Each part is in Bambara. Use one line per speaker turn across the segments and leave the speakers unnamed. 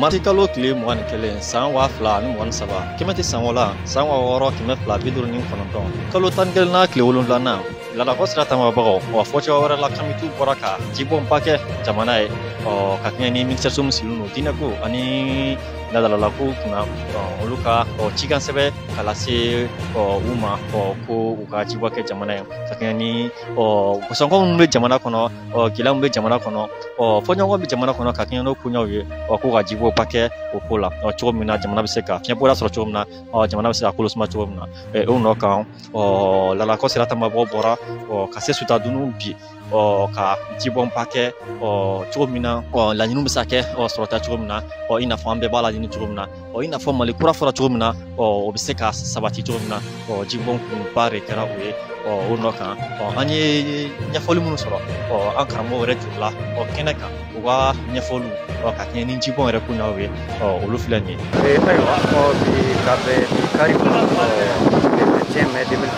mati kalo tile mugan ni kelen san waa fila ani mugan saba kɛmɛtɛ sanko la san waa wɔɔrɔ kɛmɛ fila bi duuru ni kɔnɔntɔn kalo tan ni kelenna tile wolonwulana ladakɔ sira tamabagaw wa fɔ cogoya wɛrɛ la kamitiw bɔra ka jibɔnba kɛ jamana ye ɔ ka kɛɲɛ ni minisiriso min sigilen don diinɛko ani ladalako kunna olu ka ɔ cikan sɛbɛ ka lase ɔ u ma ɔ ko u ka jibɔn kɛ jamana ye ka kɛɲɛ ni ɔ gosɔnkɔ minnu bɛ jamana kɔnɔ ɔ gɛlɛya min bɛ jamana kɔnɔ ɔ fɔɲɔgɔnkɔ bɛ jamana kɔnɔ ka kɛɲɛ n'o koɲɛw ye ɔ ko ka jibɔnba kɛ o ko la ɔ cogo min na jamana bɛ se ka fiɲɛbɔda sɔrɔ cogo min na ɔ jamana bɛ se ka kolo suma cogo min na ɛ o nɔ kan ɔ ladakɔ sira tamabagaw bɔra ɔ ka se sutadunun bi ɔ ka jibɔnba kɛ ɔ cogo min na ɔ laɲiniw bɛ se ka kɛ ɔ sɔrɔta cogo min na ɔ i n'a fɔ an bɛɛ b'a laɲini cogo min na ɔ i n'a fɔ mali kura fɔra cogo min na ɔ o bɛ se ka sabati cogo min na ɔ jibɔn kunba de kɛra o ye ɔ o nɔ kan ɔ an ye ɲɛfɔli minnu sɔrɔ ɔ an karamɔgɔ yɛrɛ jurula ɔ kɛnɛ kan u ka ɲɛfɔliw ɔ ka kɛɲɛ ni jibɔn yɛrɛ koɲɛw ye ɔ olu filɛ nin ye. ayiwa ɔ bi
ka bɛn bi kari ma ɔ le 21 mai 2020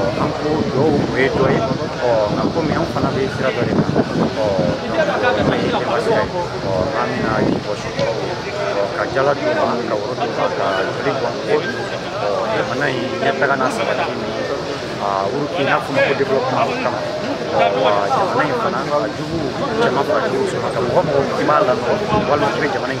ɔ an ko dugawu o ye dɔ ye ɔ nka komi an fana bɛ sira dɔ de kan ɔ an ye denbasi ye ɔ an bɛna ji bɔn suw kɔrɔ ɔ ka jala d'u ma ka woro d'u ma ka joli bɔn ko ɔ jamana in ɲɛtaga n'a sabati ni a wuruki n'a fɔ ma ko développement kama wa jamana in fana a jugu caman fara jugu sɔrɔ ka mɔgɔ mɔgɔ i b'a lanɔgɔ walima i bɛ jamana in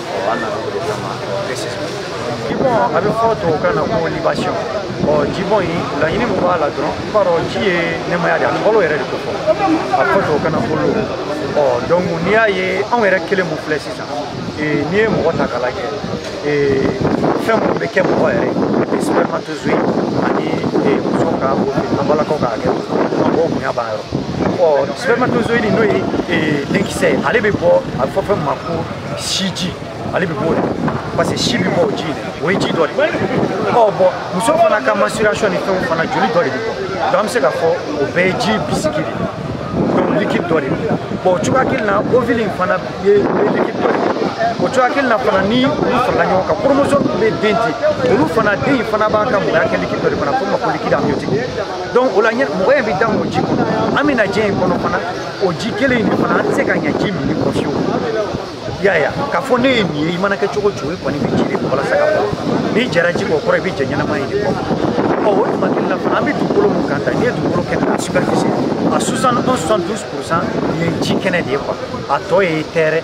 jibɔn a bɛ fɔ tubabukan na ko libation ɔ jibɔn in laɲini min b'a la dɔrɔn i b'a dɔn ji ye nimaya de a balo yɛrɛ de ko fɔ a bɛ fɔ tubabukan na ko l'eau ɔ donc n'i y'a ye anw yɛrɛ kelen min filɛ sisan n'i ye mɔgɔ ta k'a lajɛ fɛn minnu bɛ kɛ mɔgɔ yɛrɛ spermatozoïde ani muso ka an balakaw ka hakɛ mɔgɔw bonya b'a yɔrɔ ɔ spermatozoïde n'o ye denkisɛ ye ale bɛ bɔ a bɛ fɔ fɛn min ma ko siji ale bɛ b'o de parce que si bɛ bɔ o ji de o ye ji dɔ de ɔ bɔn muso fana ka menstruation ni fɛnw fana joli dɔ de bɛ bɔ donc an bɛ se k'a fɔ o bɛɛ ye ji bisiki de donc liquide dɔ de bɔn o cogoya kelen na ovule in fana ye liquide dɔ de o cogoya kelen na fana ni olu farala ɲɔgɔn kan chromosome bɛ den di olu fana den in fana b'a ka mɔgɔya kɛ liquide dɔ de fana fɔ ma ko liquide amniotique donc o la mɔgɔ in bɛ da o ji kɔnɔ an bɛ na diɲɛ in kɔnɔ fana o ji kelen in de fana an tɛ se ka ɲɛ ji minni kɔ fewu i y'a ye k'a fɔ ne ye nin ye i mana kɛ cogo cogo i kɔni bɛ ji de bɔ walasa ka bɔ n'i jɛra ji kɔ kɔrɔ i bɛ jɛ ɲɛnama in de kɔ ɔ o tuma kelen na fana an bɛ dugukolo min kan tan n'i ye dugukolo kɛnɛ a superficie a 71 72 pourcent ye ji kɛnɛ de ye quoi a tɔ ye terre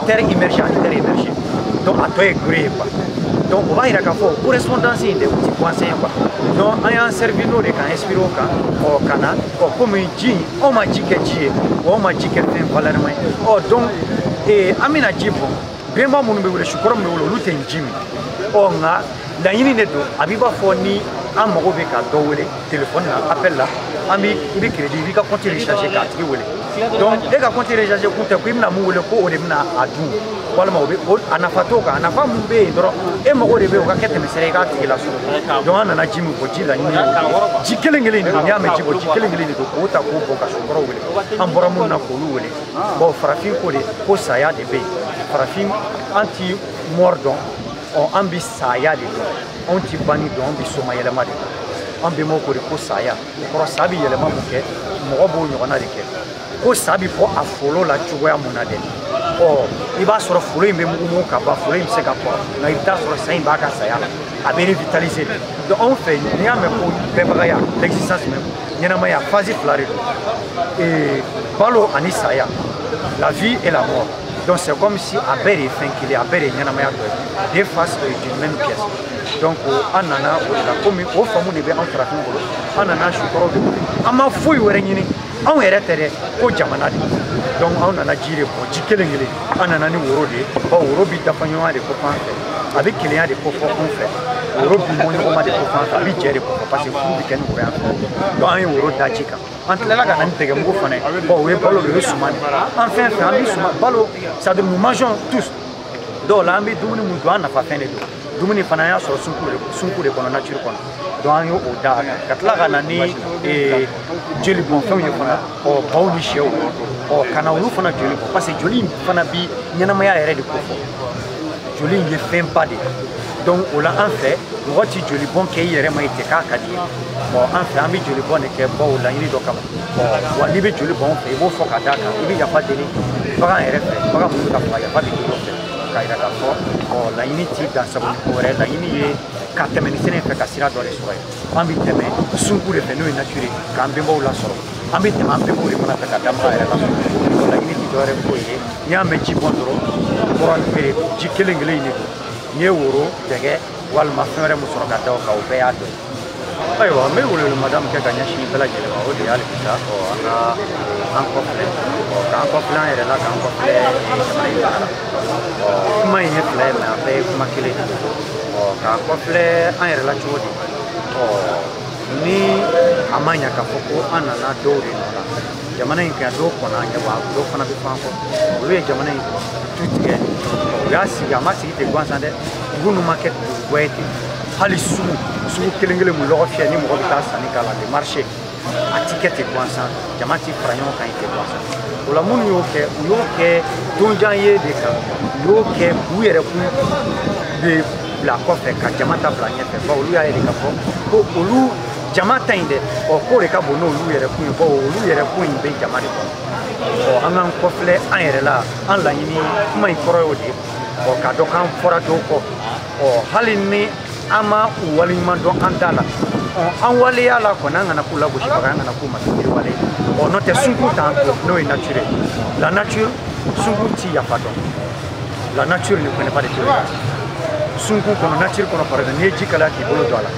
terre immergée ani terre émergée donc a tɔ ye gere ye quoi donc o b'a yira k'a fɔ correspondance in de o ti coïncidence ye quoi donc an y'an servi n'o de k'an inspiré o kan ɔ ka na ɔ komi ji anw ma ji kɛ ji ye wa anw ma ji kɛ fɛn valɛrɛma ye ɔ donc an bɛna ji bɔn bɛnba minnu bɛ wele sukɔrɔ min bɛ wele olu tɛ ji min ɔ nka laɲini de don a b'i b'a fɔ ni an mago bɛ ka dɔ wele telefɔni na appel la an bi i bɛ crédit i b'i ka compte recharger k'a tigi wele donc e ka compte recharger kun tɛ ko i bɛna mun wele ko o de bɛna a dun walima o bɛ o a nafa t'o kan a nafa mun bɛ yen dɔrɔn e mago de bɛ o ka kɛ tɛmɛsira i k'a tigi lasɔrɔ donc an nana ji min bɔn ji laɲini ye ji kelen kelen de don n'i y'a mɛn ji bɔn ji kelen kelen de don k'o ta k'o bɔn ka sukɔrɔw wele an bɔra minnu na k'olu wele bon farafin ko de ko saya de bɛ yen farafin an ti mort dɔn ɔ an bɛ saya de dɔn anw ti banni dɔn an bɛ somayɛlɛma de dɔn an bɛnbaw ko de ko saya o kɔrɔ sa bɛ yɛlɛma mun kɛ mɔgɔ b'o ɲɔgɔnna de kɛ ko sa bɛ bɔ a folo la cogoya mun na dɛ ɔ i b'a sɔrɔ folo in bɛ mugumugu ka ban folo in bɛ se ka bɔ nka i bɛ taa sɔrɔ sa in b'a ka saya la a bɛ revitaliser de donc anw fɛ n'i y'a mɛn ko bɛbagaya l'existence même ɲɛnamaya phase fila de don balo ani saya la vie et la mort donc c'est comme si a bɛɛ de ye fɛn kelen a bɛɛ de ye ɲɛnamaya dɔ ye deux faces d'une même pièce donc an nana o de la komi o faamu de bɛ an farafin bolo an nana sukɔrɔw de bolo an ma foyi wɛrɛ ɲini anw yɛrɛ tɛ dɛ ko jamana de donc anw nana ji de bɔn ji kelen kelen an nana ni woro de ye ɔ woro bi dafa ɲɔgɔnma de ko fɔ an fɛ a bɛ kelenya de ko fɔ anw fɛ woro bi bɔ ɲɔgɔnma de ko fɔ an fɛ a bɛ jɛ de ko fɔ parce que furu bɛ kɛ ni woro y'an fɛ donc an ye woro da ji kan an tilala ka na ni dɛgɛmugu fana ye ɔ o ye balo de ye suman de an fɛn fɛn an bɛ suman balo c'est à dire nous mangeons tous dɔw la an bɛ dumuni mun dun an nafa fɛn de don dumuni fana an y'a sɔrɔ sunku de kɔnɔ nature kɔnɔ donc an y'o da a kan ka tila ka na ni eh, joli bɔn fɛnw ye fana ɔ baw ni sɛw ɔ ka na olu fana joli bɔn parce que joli in fana bi ɲɛnamaya yɛrɛ de ko fɔ joli in ye fɛnba de ye donc o la an fɛ mɔgɔ tɛ joli bɔn kɛ i yɛrɛ ma i tɛ k'a ka di i ye bon an fɛ an bɛ joli bɔn de kɛ baw laɲini dɔ kama wa n'i bɛ joli bɔn fɛ i b'o fɔ ka d'a kan i bɛ yafa deli bagan yɛrɛ fɛ bagan minnu bɛ ka faga yafa bɛ k'i fɛ k'a yira k'a fɔ ɔ laɲini t'i dan sabu ni ko wɛrɛ laɲini ye ka tɛmɛ ni sɛnɛ fɛ ka sira dɔ de sɔrɔ ye an bɛ tɛmɛ sunku de fɛ n'o ye nature k'an bɛnbaw lasɔrɔ an bɛ tɛmɛ an bɛnbaw de fana fɛ ka danbaga yɛrɛ lasɔrɔ o laɲini tɛ dɔwɛrɛ foyi ye n'i y'a mɛn ji bɔn dɔrɔn kɔrɔ de ji kelen kelen in de don n'i ye woro dɛgɛ walima fɛn wɛrɛ min sɔrɔ ka da o kan o bɛɛ y'a dɔ ye ayiwa n bɛ welemada min kɛ ka ɲɛsin bɛɛ lajɛlen ma o de ye hali bi sa ɔ an ka an kɔfilɛ ɔ k'an kɔfilɛ an yɛrɛ la k'an kɔfilɛ jamana in baara la kuma in ye fila ye mais a bɛɛ ye kuma kelen de ɔ k'an kɔfilɛ an yɛrɛ la cogo di ɔ ni a ma ɲa k'a fɔ ko an nana dɔw de nɔ la jamana in kan dɔw kɔnna an ɲɛ wa dɔw fana bɛ an kɔ olu ye jamana in tu tigɛ u y'a sigi a ma sigi ten gansan dɛ dugu ninnu ma kɛ dugu guwɛ ten hali sugu sugu kelen kelen mu lɔgɔ fiyɛ ni mɔgɔ bɛ taa sanni k'a la le marché a ti kɛ ten gansan jama ti fara ɲɔgɔn kan ye ten gansan o la minnu y'o kɛ u y'o kɛ donjan ye de kan u y'o kɛ k'u yɛrɛ kun de bila kɔfɛ ka jama ta bila ɲɛfɛ bawo olu y'a ye de k'a fɔ ko olu jama ta in dɛ ɔ k'o de ka bon n'olu yɛrɛ kun ye bawo olu yɛrɛ kun in bɛ jama de kɔnɔ ɔ an k'an kɔfilɛ an yɛrɛ la an laɲini kuma in kɔrɔ y'o de ye ɔ k'a dɔn k'an fɔra dɔw kɔ ɔ hali ni an ma u waleɲuman dɔn an da la an waleya la kɔni an kana k'u lagosibaga an kana k'u masiriwale ɔ n'o tɛ sunku t'an to n'o ye nature la nature sunku ti yafa dɔn la nature ne connaît pas de tolérance sunku kɔnɔ nature kɔnɔ par exemple n'i ye ji kalaya k'i bolo don a la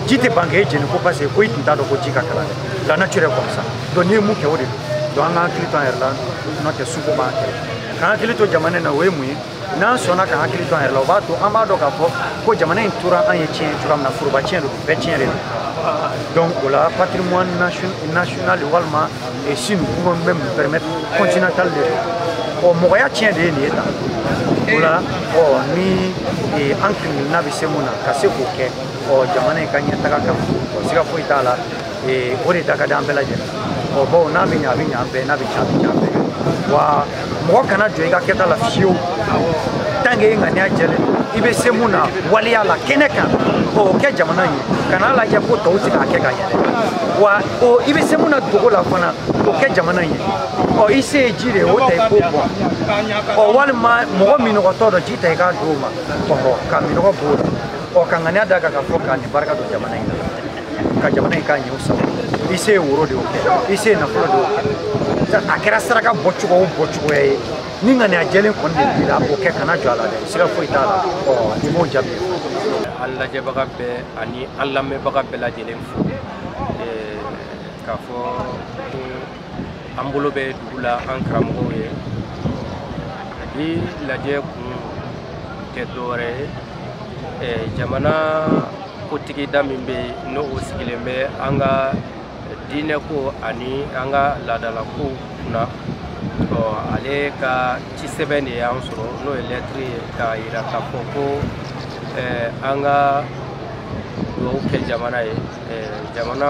ji tɛ ban k'e jeni ko parce que ko i tun t'a dɔn ko ji ka kalan dɛ la nature est comme ça donc n'i ye mun kɛ o de don donc an k'an hakili to an yɛrɛ la n'o tɛ sunku b'an kɛlɛ k'an hakili to jamana in na o ye mun ye n'an sɔnna k'an hakili to an yɛrɛ la o b'a to an b'a dɔn k'a fɔ ko jamana in tora an ye tiɲɛ cogoya min na foroba tiɲɛ de don bɛɛ tiɲɛ de don donc o la patrimoine national walima si nous pouvons même permettre continental de don ɔ mɔgɔya tiɲɛ de ye nin ye tan o la ɔ ni an kelen kelenna bɛ se mun na ka se k'o kɛ ɔ jamana in ka ɲɛtaga kan ɔ siga foyi t'a la ee o de da ka di an bɛɛ lajɛlen ɔ bawo n'a bɛ ɲa a bɛ ɲa an bɛɛ n'a bɛ tiɲɛ a bɛ tiɲɛ an bɛɛ wa mɔgɔ kana jɔ i ka kɛta la fiyewu tant que e ŋaniya jɛlen i bɛ se mun na waleya la kɛnɛ kan o kɛ jamana ye kana lajɛ ko tɔw tɛ k'a kɛ ka ɲɛ wa i bɛ se mun na dogo la fana o kɛ jamana ye ɔ i se ye ji de ye o ta i k'o bɔn ɔ walima mɔgɔ minɔgɔtɔ dɔ ji ta i k'a di o ma ɔhɔ ka minɔgɔ b'o la ɔ ka ŋaniya d'a kan k'a fɔ ka nin barika don jamana in na ka jamana in k'a ɲɛw sago i se ye woro de y'o kɛ i se ye nafolo de y'o kɛ a kɛra saraka bɔcogo o bɔcogoya ye ni ŋaniya jɛlen kɔni de b'i la o kɛ kana jɔ a la dɛ siga foyi t'a la i b'o jaabi
an lajɛbaga bɛɛ ani an lamɛnbaga bɛɛ lajɛlen fo k'u fo an bolo bɛ dugu la an karamɔgɔw ye bi lajɛ kun tɛ dɔwɛrɛ ye eh, jamana kotigida min bɛ yen n'o sigilen bɛ an ka diinɛkow ani an ka laadalakow kunna ɔ ale ka ci sɛbɛn de y'an sɔrɔ n'o ye lɛtiri ye k'a yira k'a fɔ ko eh, an ka dugawu kɛ jamana ye eh, jamana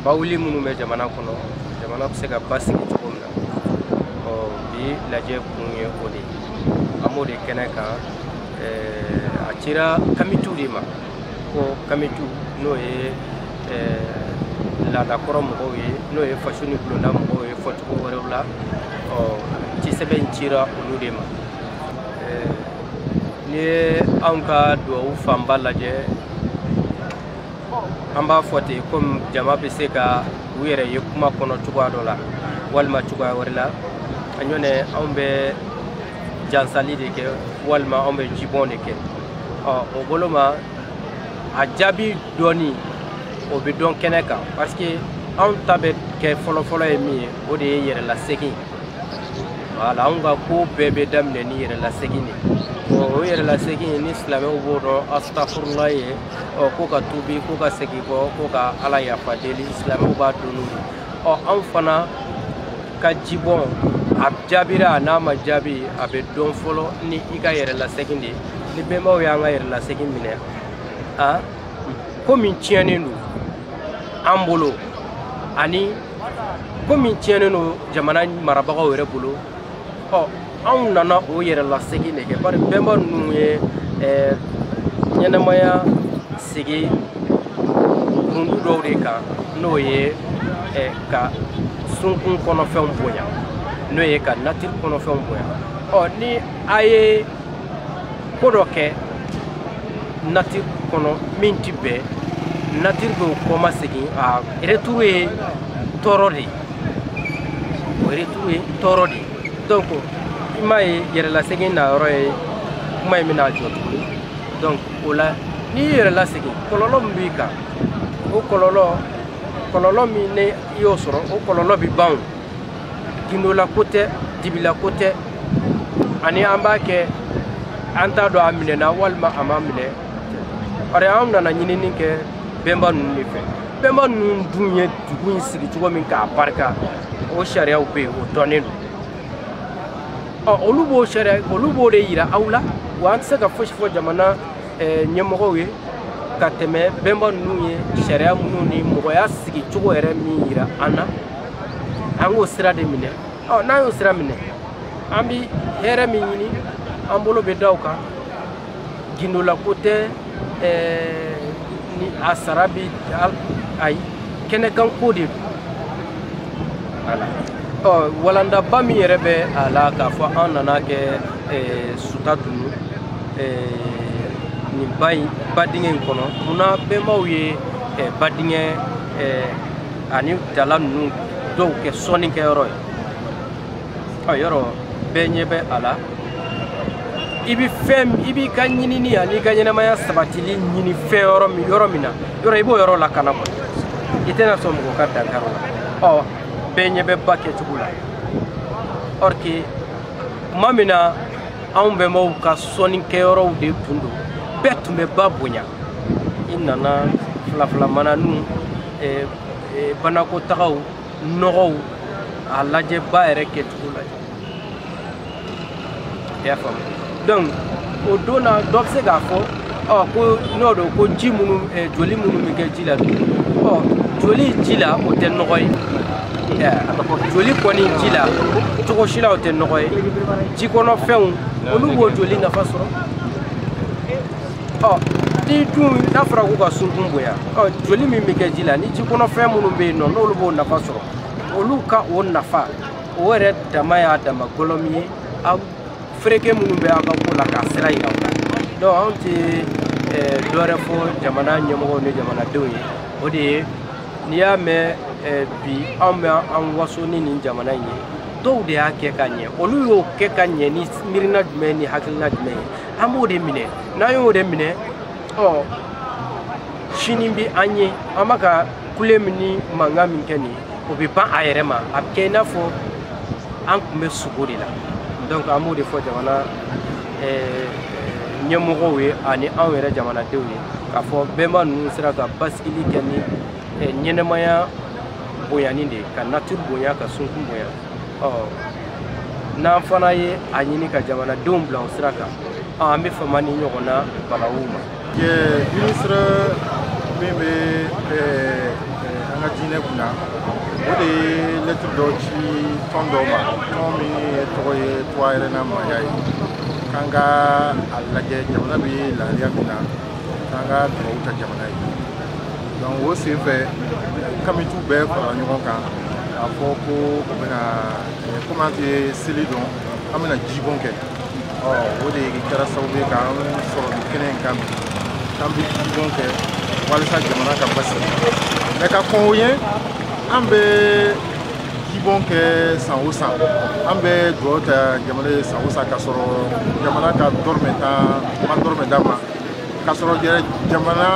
bawuli minnu bɛ jamana kɔnɔ jamana bɛ se ka basigi cogo min na ɔ bi lajɛ kun ye o de ye an b'o de kɛnɛ kan a cira kamitu de ma ko kamitu n'o ye laadakɔrɔ mɔgɔw ye n'o ye faso ni bulonda mɔgɔw ye fɔcogo wɛrɛw la ɔ cisɛbɛn cira olu de ma n'i ye anw ka duwawu fanba lajɛ an b'a fɔ ten komi jama bɛ se ka u yɛrɛ ye kuma kɔnɔ cogoya dɔ la walima cogoya wɛrɛ la nɔntɛ anw bɛ jansali de kɛ walima anw bɛ jibɔn de kɛ ɔ o bolo ma a jaabi dɔnni o bɛ dɔn kɛnɛ kan parce que anw ta bɛ kɛ fɔlɔfɔlɔ ye min ye o de ye yɛrɛlasegin wala anw ka ko bɛɛ bɛ daminɛ ni yɛrɛlasegin de o yɛrɛlasegin ni silamɛw b'o dɔn asitafurula ye ɔ ko ka tubi ko ka segin kɔ ko ka ala yafa deli silamɛw b'a dɔn o ye ɔ anw fana ka jibɔn a jaabira n'a ma jaabi a bɛ dɔn fɔlɔ ni i ka yɛrɛlasegin de ye ni bɛnbaw y'an ka yɛrɛlasegin minɛ a ko min tiɲɛnen don an bolo ani ko min tiɲɛnen don jamana marabagaw yɛrɛ bolo ɔ anw nana o yɛrɛlasegin de kɛ bari bɛnba ninnu ye eh, ɲɛnamaya sigi kurundu dɔw de kan n'o ye eh, ka sunkun kɔnɔfɛnw bonya n'o ye ka natiri kɔnɔfɛnw bonya ɔ ni a ye ko dɔ kɛ natiri kɔnɔ min ti bɛn natiri b'o kɔma segin a retour ye tɔɔrɔ de ye o retour ye tɔɔrɔ de donc i m'a ye yɛrɛlasegin na yɔrɔ ye kuma in bɛna jɔ tuguni donc o la n'i y'i yɛrɛ lasegin kɔlɔlɔ min b'i kan o kɔlɔlɔ kɔlɔlɔ min n'i y'o sɔrɔ o kɔlɔlɔ bɛ ban o gindola ko tɛ dibila ko tɛ ani an b'a kɛ an t'a dɔn a minɛna walima a ma minɛ bari an nana ɲinini kɛ bɛnba ninnu de fɛ bɛnba ninnu dun ye dugu in sigi cogo min k'a barika o sariyaw bɛ yen o dɔnnen don ɔ olu b'o sariya olu b'o de yira aw la wa an tɛ se ka fosi fɔ jamana eh, ɲɛmɔgɔw ye ka tɛmɛ bɛnba ninnu ye sariya minnu ni mɔgɔya sigi cogo yɛrɛ min yira an na an k'o sira de minɛ ɔ n'an y'o sira minɛ an bi hɛrɛ min ɲini an bolo bɛ da o kan gundolako tɛ eh, ni a sara bɛ ayi kɛnɛkanko de don voilà ɔ walandaba min yɛrɛ bɛ a la k'a fɔ an nana kɛ eh, Sutadunu eh, nin ba in ba dingɛ in kɔnɔ munna bɛnbaw ye eh, ba dingɛ eh, ani dala ninnu dɔw kɛ sɔnnikɛyɔrɔ ye a yɔrɔ bɛɛ ɲɛ bɛ a la i bɛ fɛn i b'i ka ɲinini an'i ka ɲɛnamaya sabatili ɲini fɛn yɔrɔ min na yɔrɔ i b'o yɔrɔ lakana kɔni i tɛna sɔn mɔgɔ ka dankari o la ɔ bɛɛ ɲɛ bɛ ba kɛcogo la or que tuma min na anw bɛnbaw ka sɔnni kɛyɔrɔw de tun don bɛɛ tun bɛ ba bonya i nana filafila mana nu eh, eh, banakɔtagaw nɔgɔw a lajɛ ba yɛrɛ kɛcogo la i y'a faamu donc o don na dɔ bɛ se k'a fɔ ɔ ko n'o don ko ji minnu eh, joli minnu bɛ kɛ ji la bi ɔ joli ji la o tɛ nɔgɔ ye joli kɔni ji la cogo si la o tɛ nɔgɔ ye jikɔnɔfɛnw olu b'o joli nafa sɔrɔ ɔ ni dun n'a fɔra k'u ka sunkun bonya ɔ joli min bɛ kɛ ji la ni jikɔnɔfɛn minnu bɛ yen nɔ n'olu b'o nafa sɔrɔ olu ka o nafa o yɛrɛ dama y'a dama gɔlɔmi ye aw fereke minnu bɛ aw ka ko la k'a sira yira u la donc anw tɛ dɔwɛrɛ fɔ jamana ɲɛmɔgɔw ni jamanadenw ye o de ye n'i y'a mɛn bi anw bɛ an waso ni nin jamana in ye dɔw de y'a kɛ ka ɲɛ olu y'o kɛ ka ɲɛ ni miirina jumɛn ni hakilina jumɛn ye an b'o de minɛ n'an y'o de minɛ ɔ sini bɛ an ye an bɛ ka kule min ni mankan min kɛ nin o bɛ ban a yɛrɛ ma a bɛ kɛ i n'a fɔ an tun bɛ sugo de la donc an b'o de fɔ jamana ɲɛmɔgɔw ye ani anw yɛrɛ jamanadenw ye k'a fɔ bɛnba ninnu sera ka basigili kɛ ni ɲɛnamaya bonyani de ye ka nature bonya ka sunkun bonya n'an fana ye a ɲini ka jamanadenw bila o sira kan an bɛ fama nin ɲɔgɔnna balawu ma minisiri
min bɛ an ka diinɛ kun na o de ye lɛtiri dɔ ci tɔn dɔ ma tɔn min tɔgɔ ye tuwa yɛrɛ na maaya ye k'an ka a lajɛ jamana bɛ lahalaya min na k'an ka dugawu ta jamana ye donc o sen fɛ kamitu bɛɛ farala ɲɔgɔn kan k'a fɔ ko u bɛna komi an tɛ seli dɔn an bɛna jibɔn kɛ ɔ o de kɛra sababu ye k'an sɔrɔ nin kɛnɛ in kan bi k'an bɛ jibɔn kɛ walisa jamana ka basigi mais ka kɔn o ɲɛ an bɛ jibɔn kɛ san o san an bɛ dugawu ta jamana ye san o san k'a sɔrɔ jamana ka dɔrɔmɛ tan ma dɔrɔmɛ d'a ma k'a sɔrɔ jamana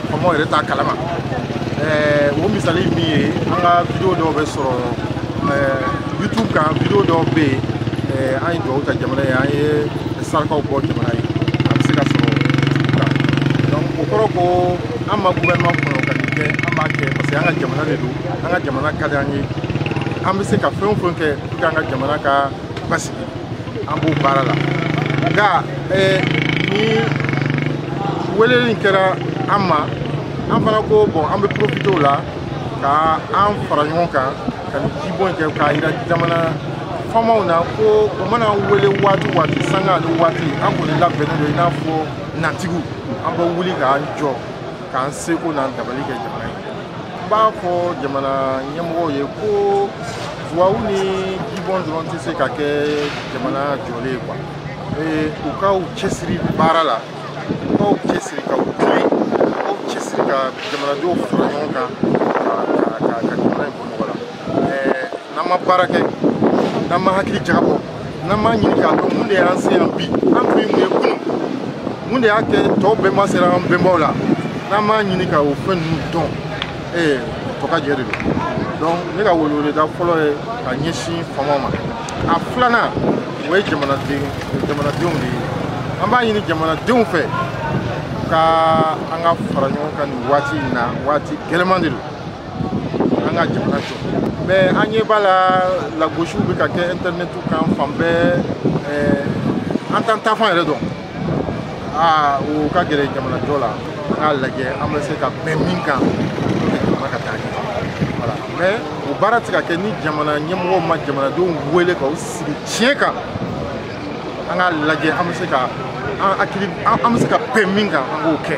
faamaw yɛrɛ t'a kalama o misali min ye an ka video dɔw bɛ sɔrɔ youtube kan video dɔw bɛ yen an ye dugawu ta jamana ye an ye sarakaw bɔ jamana ye a bɛ se ka sɔrɔ youtube kan donc o kɔrɔ ko an ma gouvernement kɔnɔ ka nin kɛ an b'a kɛ parce que an ka jamana de don an ka jamana ka di an ye an bɛ se ka fɛn o fɛn kɛ pour que an ka jamana ka basigi an b'o baara la nka ni weleli kɛra an ma an fana ko bon an bɛ profiter o la ka an fara ɲɔgɔn kan ka nin jibɔn in kɛ k'a yira jamana faamaw na ko u mana wele waati waati sanga ani waati an kɔni labɛnnen don i n'a fɔ natigiw an bɛ wuli k'an jɔ k'an seko n'an dabali kɛ jamana ye n b'a fɔ jamana ɲɛmɔgɔw ye ko dugawu ni jibɔn dɔrɔn tɛ se ka kɛ jamana jɔlen ye quoi u ka u cɛsiri baara la u ka u cɛsiri ka u tilen u ka u cɛsiri ka jamanadenw fara ɲɔgɔn kan n'an ma baara kɛ n'an ma hakili jagabɔ n'an m'a ɲini k'a dɔn mun de y'an se yan bi an tun ye mun ye kunun mun de y'a kɛ tɔw bɛnba sera an bɛnbaw la n'an m'a ɲini ka o fɛn ninnu dɔn ee tɔkajɛ de don donc ne ka weleweleda fɔlɔ ye ka ɲɛsin faamaw ma a filanan o ye jamanaden jamanadenw de ye an b'a ɲini jamanadenw fɛ ka an ka fara ɲɔgɔn kan nin waati in na waati gɛlɛman de don an ka jamana jɔ mais an ɲɛ b'a la lagosiw bɛ ka kɛ intɛrɛnɛtiw kan fan bɛɛ an t'an taafan yɛrɛ dɔn aa o ka gɛlɛn jamanajɔ la an k'a lajɛ an bɛ se ka bɛn min kan pour que jamana ka taa ɲɛ voilà mais o baara tɛ ka kɛ ni jamana ɲɛmɔgɔw ma jamanadenw wele ka u sigi tiɲɛ kan an k'a lajɛ an bɛ se ka an hakili an bɛ se ka bɛn min kan an k'o kɛ